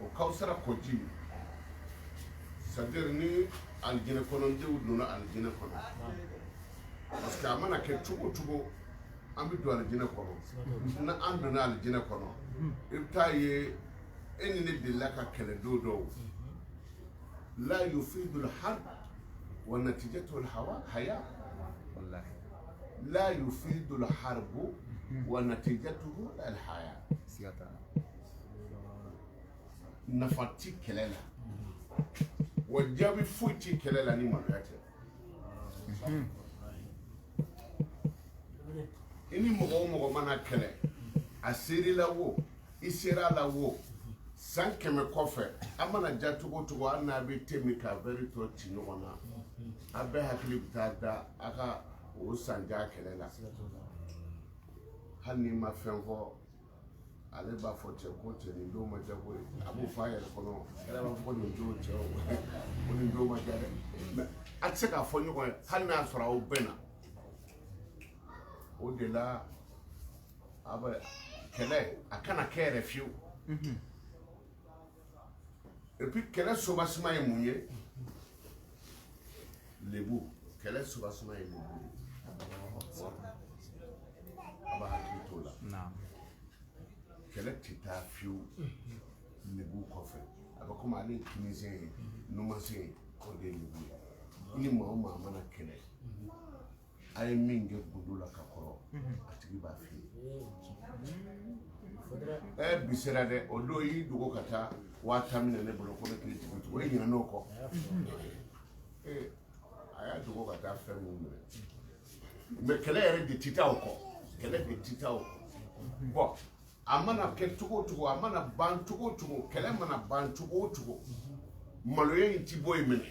o kawsara kɔ ji c'est-à-dire ni alijinɛ kɔnɔdenw donna alijinɛ kɔnɔ parce que a mana kɛ cogo cogo an bɛ don alijinɛ kɔnɔ n'an donna alijinɛ kɔnɔ i bɛ t'a ye e ni ne delila ka kɛlɛ don dɔ la yufidu alharb wa natijatu alhawa haya la yufidu alharb wa natijatuhu alhaya nafa ti kɛlɛ la wa jaabi foyi ti kɛlɛ la ni maloya tɛ i ni mɔgɔ o mɔgɔ mana kɛlɛ a sera i la wo i sera a la wo san kɛmɛ kɔfɛ a mana diya cogo cogo hali n'a bɛ te min ka vɛri tɔ ci ɲɔgɔn na a bɛɛ hakili bɛ taa da a ka o san jan kɛlɛ la hali n'i ma fɛn fɔ ale b'a fɔ cɛ ko cɛ nin don ma diya ko ye a b'o fɔ a yɛrɛ kɔnɔ i yɛrɛ b'a fɔ ko nin don cɛ o ko nin don ma diya dɛ mɛ a tɛ se k'a fɔ ɲɔgɔn ye hali n'a sɔrɔ aw bɛn na o de la kɛlɛ a kana kɛ yɛrɛ fiyewu et puis kɛlɛ soubassement ye mun ye lebu kɛlɛ soubassement ye mun ye a b'a hakili t'o la kɛlɛ tɛ taa fiyewu lebu kɔfɛ a bɛ komi ale ye kininsen ye numansen ye o de ye lebu ye i ni maa o maa mana kɛlɛ a ye min kɛ gundo la ka kɔrɔ a tigi b'a fɔ i ye ɛ bi sera dɛ o don y'i dogo ka taa waa tan minɛ ne bolo ko ne k'i dugu cogo e ɲin n'o kɔ a y'a dogo ka taa fɛn minnu minɛ mɛ kɛlɛ yɛrɛ de ti taa o kɔ kɛlɛ de ti taa o kɔ bɔn a mana kɛ cogo cogo a mana ban cogo cogo kɛlɛ mana ban cogo cogo maloya in tɛ bɔ yen minɛ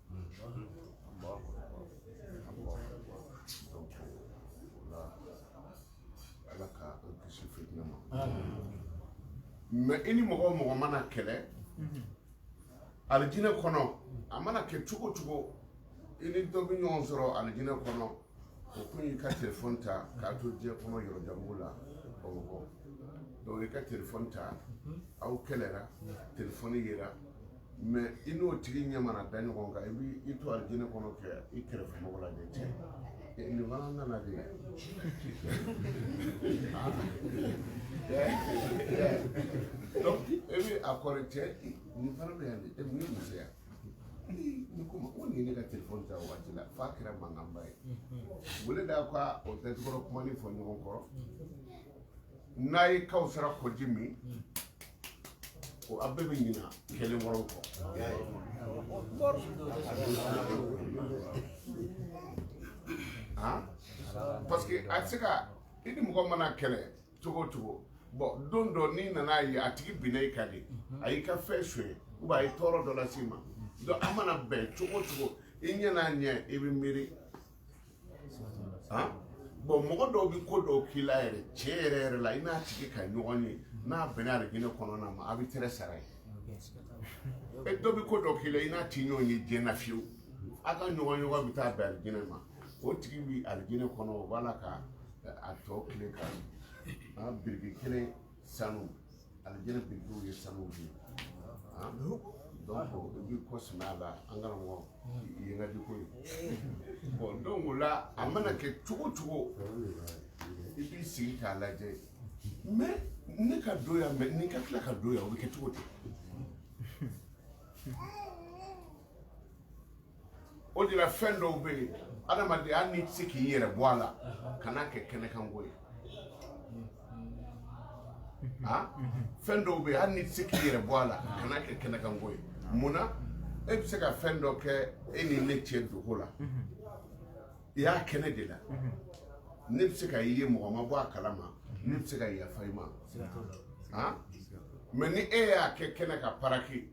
mɛ i ni mɔgɔ o mɔgɔ mana kɛlɛ alijinɛ kɔnɔ a mana kɛ cogo cogo i ni dɔ bɛ ɲɔgɔn sɔrɔ alijinɛ kɔnɔ o kun y'i ka telefɔni ta k'a to diɲɛ kɔnɔ yɔrɔ jan dɔ la bamakɔ donc i ka telefɔni ta aw kɛlɛra telefɔni yera mais i n'o tigi ɲɛ mana da ɲɔgɔn kan i b'i to alijinɛ kɔnɔ kɛ i kɛrɛfɛ mɔgɔ lajɛ cɛ nin fana nana de donc e bɛ a kɔrɔ cɛ nin fana bɛ yan de e ni muso yan ni ko ko nin ne ka telefɔni ta waati la f'a kɛra mankanba ye wele da ka o tɛtikɔrɔ kuma nin fɔ ɲɔgɔn kɔrɔ n'a ye kawsara kɔji min ko a bɛɛ bɛ ɲina kɛlɛ kɔrɔ kɔ parce que a tɛ se ka i ni mɔgɔ mana kɛlɛ cogo o cogo bon don dɔ n'i nana ye a tigi binna i kan de a y'i ka fɛn sonyɛ ou bien a ye tɔɔrɔ dɔ lase i ma donc a mana bɛn cogo cogo i ɲɛ n'a ɲɛ i bɛ miiri bon mɔgɔ dɔw bɛ ko dɔw k'i la yɛrɛ tiɲɛ yɛrɛ yɛrɛ la i n'a tigi ka ɲɔgɔn ye n'a bɛnna alijinɛ kɔnɔna ma a bɛ tɛrɛ sara ye e dɔ bɛ ko dɔw k'i la i n'a ti ɲɔgɔn ye diɲɛ na fiyewu a ka ɲɔgɔn ye wa bɛ taa bɛn alijinɛ ma o tigi bɛ alijinɛ kɔnɔ o b'a la ka a tɔ tile ka biriki kelen sanu alijinɛ birikiw ye sanu de ye ah, donc i b'i kɔ sɛmɛ a la an kana mɔgɔ ye n ka di ko ye bon donc o la a mana kɛ cogo cogo i b'i sigi k'a lajɛ mais ne ka don yan mais nin ka tila ka don yan o bɛ kɛ cogo di o de la fɛn dɔw bɛ yen adamaden hali n'i tɛ se k'i yɛrɛ bɔ a la kan'a kɛ kɛnɛkanko ye ah? fɛn dɔw bɛ yen hali n'i tɛ se k'i yɛrɛ bɔ a la kan'a kɛ kɛnɛkanko ye mun na e bɛ se ka fɛn dɔ kɛ e ni ne cɛ dogo la I y'a kɛ ne de la ne bɛ se ka i ye mɔgɔ ma bɔ a kalama ne bɛ se ka yafa i ma mais ni e y'a kɛ kɛnɛ kan parce que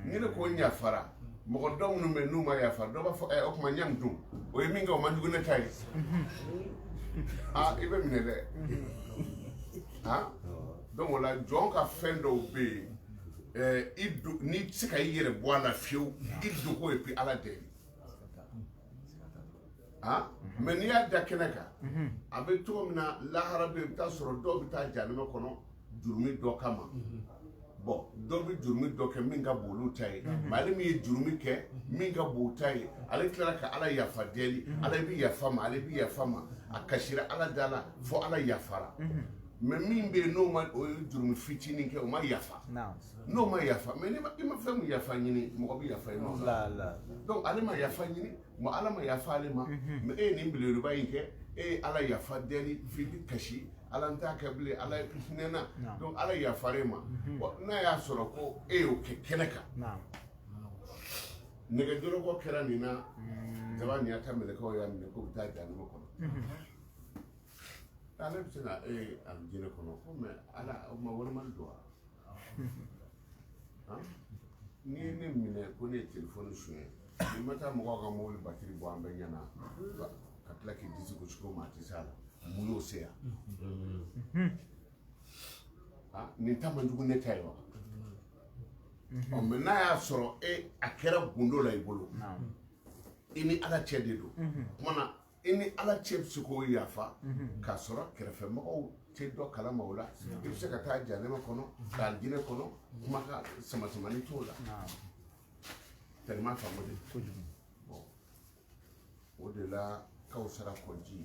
ni ne ko n yafara mɔgɔ dɔw minnu bɛ n'u ma yafa dɔw b'a fɔ o tuma ɲɛ min dun o ye min kɛ o man jugu ne ta ye aa i bɛ minɛ dɛ donc o la jɔn ka fɛn dɔw bɛ yen n'i tɛ se ka i yɛrɛ bɔ a la fiyewu i dogo et puis ala deli Ah? Mhm. mais n'i y'a da kɛnɛ kan mhm. a bɛ cogo min na lahara bɛ bɛ taa sɔrɔ dɔw bɛ taa jahanama kɔnɔ jurumi dɔ kama mhm. bon dɔw bɛ jurumi dɔ kɛ min ka bon olu ta ye mais ale min ye jurumi kɛ min ka bon o ta ye ale tilara ka ala yafa deli ala bɛ yafa ma ale bɛ yafa ma a kasira ala da la fo ala yafara mais min bɛ yen n'o ma o ye jurumi fitinin kɛ o ma yafa n'o ma yafa mais n'i ma fɛn min yafa ɲini mɔgɔ bɛ yafa i ma donc ale ma yafa ɲini mɔ ala ma yafa ale ma mhm. mais e ye nin belebeleba in kɛ e ye ala yafa deli f'i bɛ kasi ala n t'a kɛ bilen ala hinɛ n na donc ala yafara e ma mhm. n'a y'a sɔrɔ ko e y'o kɛ kɛnɛ kan nɛgɛjɔlɔkɔ kɛra nin na jaba mhm. nin y'a ta mɛlɛkɛw y'a minɛ k'u bɛ taa jahanama kɔnɔ ale bɛ se ka e alijinɛ kɔnɔ ko mais ala o ma walima don wa n'i ye ne minɛ ko ne ye telefɔni suɲɛ n'i ma taa mɔgɔw ka mobili batiri bɔ an bɛɛ ɲɛna ka tila k'i disi gosi ko maa tɛ se a la mun y'o se yan nin ta man jugu ne ta ye wa ɔ mais n'a y'a sɔrɔ e a kɛra gundo la i bolo i ni ala cɛ de don o kuma na i ni ala cɛ bɛ se k'o yafa k'a sɔrɔ kɛrɛfɛmɔgɔw tɛ dɔ kalama o la i bɛ se ka taa jahanama kɔnɔ alijinɛ kɔnɔ kuma ka sama samani t'o la tellement faamu de kojugu bon o de la Kawusara kɔji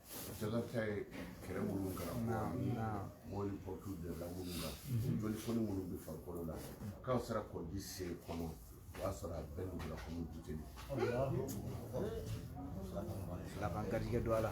Jalatigɛ ye kɛlɛ minnu kɛra mɔni pɔtu dela minnu na jolifɔni minnu bɛ farikolo la Kawusara kɔji se kɔnɔ o y'a sɔrɔ a bɛɛ nugula komi buteli laban garijɛgɛ don a la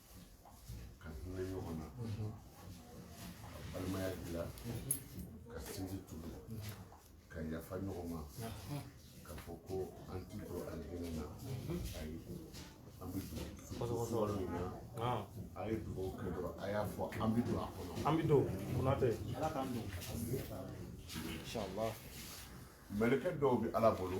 ka hinɛ ɲɔgɔn na ka balimaya dilan ka sinji tugu ka yafa ɲɔgɔn ma ka fɔ ko an ti don alijinɛ na ayi an bɛ dugawu min na a ye dugawu kɛ dɔrɔn a y'a fɔ an bɛ don a kɔnɔ an bɛ don Konatɛ ala k'an don inshallah mɛlɛkɛ dɔw bɛ ala bolo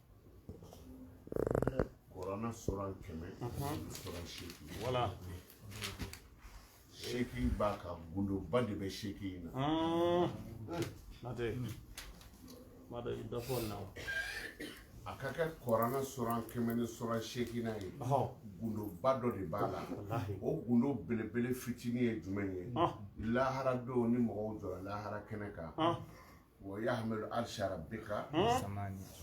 kurana suran kɛmɛ suran seegin voilà seegin b'a kan gundoba de bɛ seegin in na natɛ ma dɔ i dɔ fɔ na a ka kɛ kurana suran kɛmɛ ni suran seegin na ye gundoba dɔ de b'a la o gundo belebele fitinin ye jumɛn ye lahara don ni mɔgɔw jɔra lahara kɛnɛ kan wa yahmilu arsha rabbika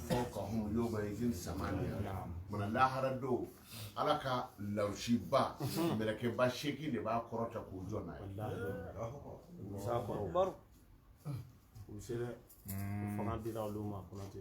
fawqahum yawma izin samaniya mana lahara don ala ka larisiba mɛlɛkɛba seegin de b'a kɔrɔta k'o jɔ n'a ye Musa kɔrɔ baro u se dɛ fanga dira olu ma Konatɛ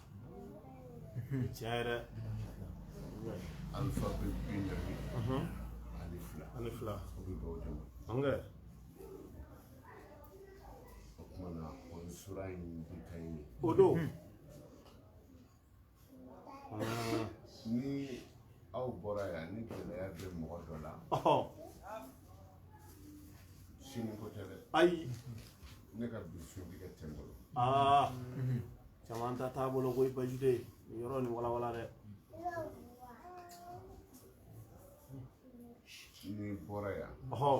cayara alphabet bi naani ani fila ani fila o bɛ bɛn o de ma an kɛ o kuma na o ye sura in bi ta ye o don ni aw bɔra yan ni gɛlɛya bɛ mɔgɔ dɔ la sini ko tɛ dɛ ayi ne ka bi suntigɛ tɛ n bolo aa caman ta t'a bolo koyi baasi tɛ nin yɔrɔ nin walawala dɛ n'i bɔra yan ɔhɔ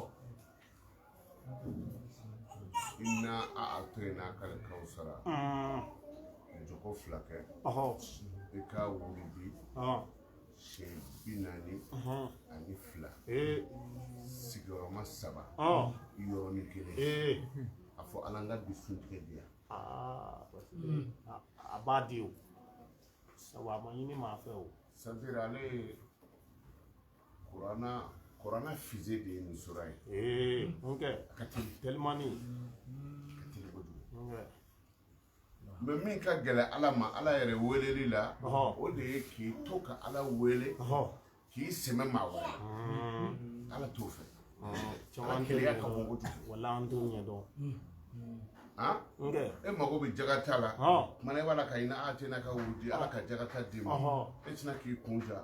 i n'a a a to yen n'a kari kawusara jɔko fila kɛ ɔhɔ i k'a wurudi ɔhɔ siyɛn bi naani ani fila sigiyɔrɔma saba yɔrɔnin kelen a fɔ ala n ka bi suntigɛ di yan a b'a di o sabu a ma ɲini maa fɛ o c'est-à-dire ale ye kuranna kuranna fusée de ye nin sura ye n kɛ a ka teli telimani ka teli kojugu mais min ka gɛlɛ ala ma ala yɛrɛ weleli la o de ye k'i to ka ala wele k'i sɛmɛ maa wɛrɛ hmm. ala t'o fɛ ala keleya ka bon kojugu wala an t'o ɲɛdɔn e mago bɛ jagata la kumana i b'a la ka inna ataynaka wurudi ala ka jagata d'i ma e tɛna k'i kun ja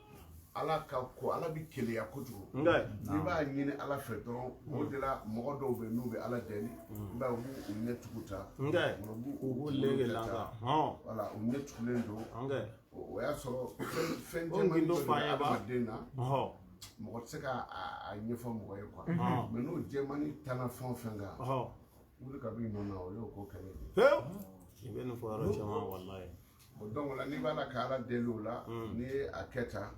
ala ka ko ala bɛ keleya kojugu nka n'i b'a ɲini ala fɛ dɔrɔn o de la mɔgɔ dɔw bɛ n'u bɛ ala deli i b'a ye u b'u ɲɛ tugu tan nka u b'u lege la wala u ɲɛ tugulen don o y'a sɔrɔ fɛn caman dɔ bɛ adamaden na mɔgɔ tɛ se ka a ɲɛfɔ mɔgɔ ye quoi mais n'o jɛmani tanna fɛn o fɛn kan wuli ka b'i nɔ na o y'o ko kɛlɛ ye i bɛ nin fɔ yɔrɔ caman walayi donc la n'i b'a la ka ala deli o la n'i ye a kɛ tan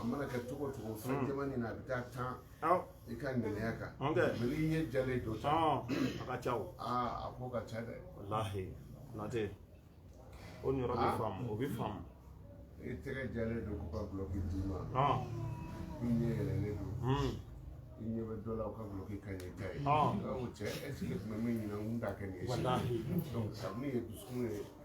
a mana kɛ cogo o cogo fɛn jɛmanin na a bɛ taa tan i ka ŋaniya kan mais n'i ɲɛ jɛlen don tan a ka ca aa a ko ka ca dɛ Konate o yɔrɔ bɛ faamu o bɛ faamu i tɛgɛ jɛlen don k'u ka duloki d'i ma i ɲɛ yɛlɛlen don i ɲɛ bɛ dɔ la ka duloki ka ɲi e ta ye cɛ est-ce que tun bɛ min ɲini n da kɛ nin ye kabini ye dusu ye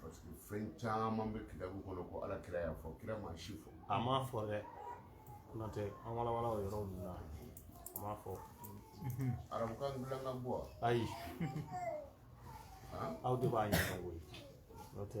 Parce que fɛn caman bɛ kitabu kɔnɔ ko ala kira y'a fɔ kira ma si fɔ a m'a fɔ dɛ n'o tɛ an walawala o yɔrɔ nin na a m'a fɔ arabukan dilan ka bɔ ayi aw de b'a ɲɛdɔn koyi n'o tɛ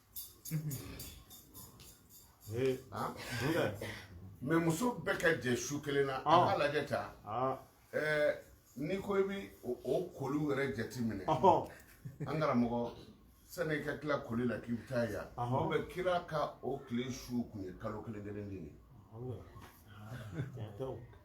mais muso bɛɛ ka jɛ su kelen na an ka lajɛ ta n'i ko i bɛ o koli yɛrɛ jate minɛ an karamɔgɔ sani i ka tila koli la k'i bɛ taa yan o bɛ kira ka o tile su kun ye kalo kelen kelen de ye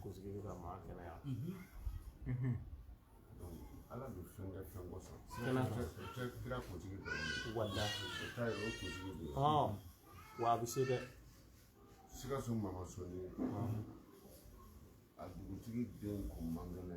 kunsigi ka maa kɛnɛya ala bɛ fɛn kɛ fɛn kosɔn kira kunsigi dɔrɔn walayi o ta ye o kunsigi de ye wa a bɛ se dɛ sikaso mama soni a dugutigi den kun man kɛnɛ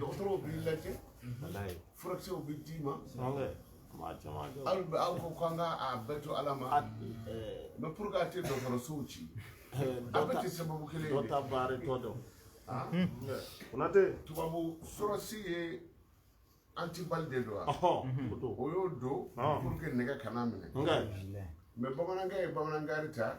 dɔgɔtɔrɔw b'i lajɛ furakisɛw bɛ d'i ma hali bɛ aw ko k'an ka a bɛɛ to ala ma mais pour que a tɛ dɔgɔtɔrɔsow ci a bɛɛ tɛ sababu kelen dɔ ta baara tɔ dɔn konate tubabu sɔrɔsi ye anti-balles de don wa o y'o don pour que nɛgɛ kana minɛ mais bamanankɛ ye bamanankari ta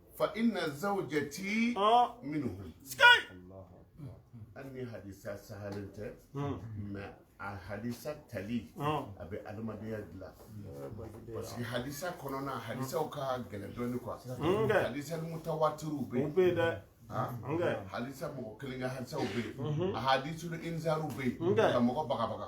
fa inna zawjati minhum an ni hadisa sahalen tɛ mais a hadisa tali a bɛ adamadenya dilan parce que hadisa kɔnɔna hadisaw ka gɛlɛn dɔɔni quoi hadisa mutawatiriw bɛ yen dɛ hadisa mɔgɔ kelen ka hadisaw bɛ yen ahadisul inzariw bɛ yen ka mɔgɔ bagabaga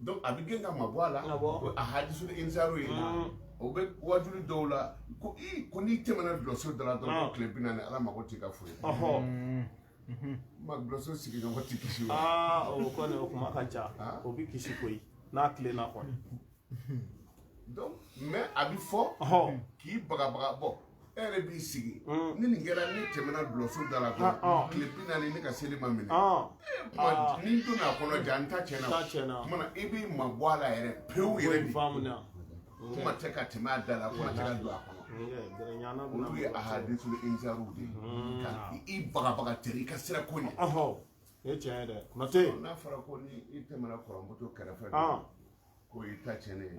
donc a b'i gɛn ka mabɔ a la o ahadisul inzari ye o bɛ wajuli dɔw la ko i ko n'i tɛmɛna dulɔso da la dɔrɔn ko tile bi naani ala mago t'i ka foyi ma dulɔso sigiɲɔgɔn tɛ kisi o kɔni o kuma ka ca o bɛ kisi koyi n'a tilenna kɔni donc mais a bɛ fɔ k'i bagabaga bɔ e yɛrɛ b'i sigi ni nin kɛra ne tɛmɛna dulɔso da la dɔrɔn tile bi naani ne ka seli ma minɛ ni n donna a kɔnɔ ja n ta tiɲɛna o tuma na i b'i mabɔ a la yɛrɛ pewu yɛrɛ de kuma tɛ ka tɛmɛ a da la kuma tɛ ka don a kɔnɔ olu ye ahadisul inzariw de ye ka i bagabaga ten i ka siran ko ɲɛ E tiɲɛ dɛ mais n'a fɔra ko n'i tɛmɛna kɔrɔmuso kɛrɛfɛ ko i ta tiɲɛnen ye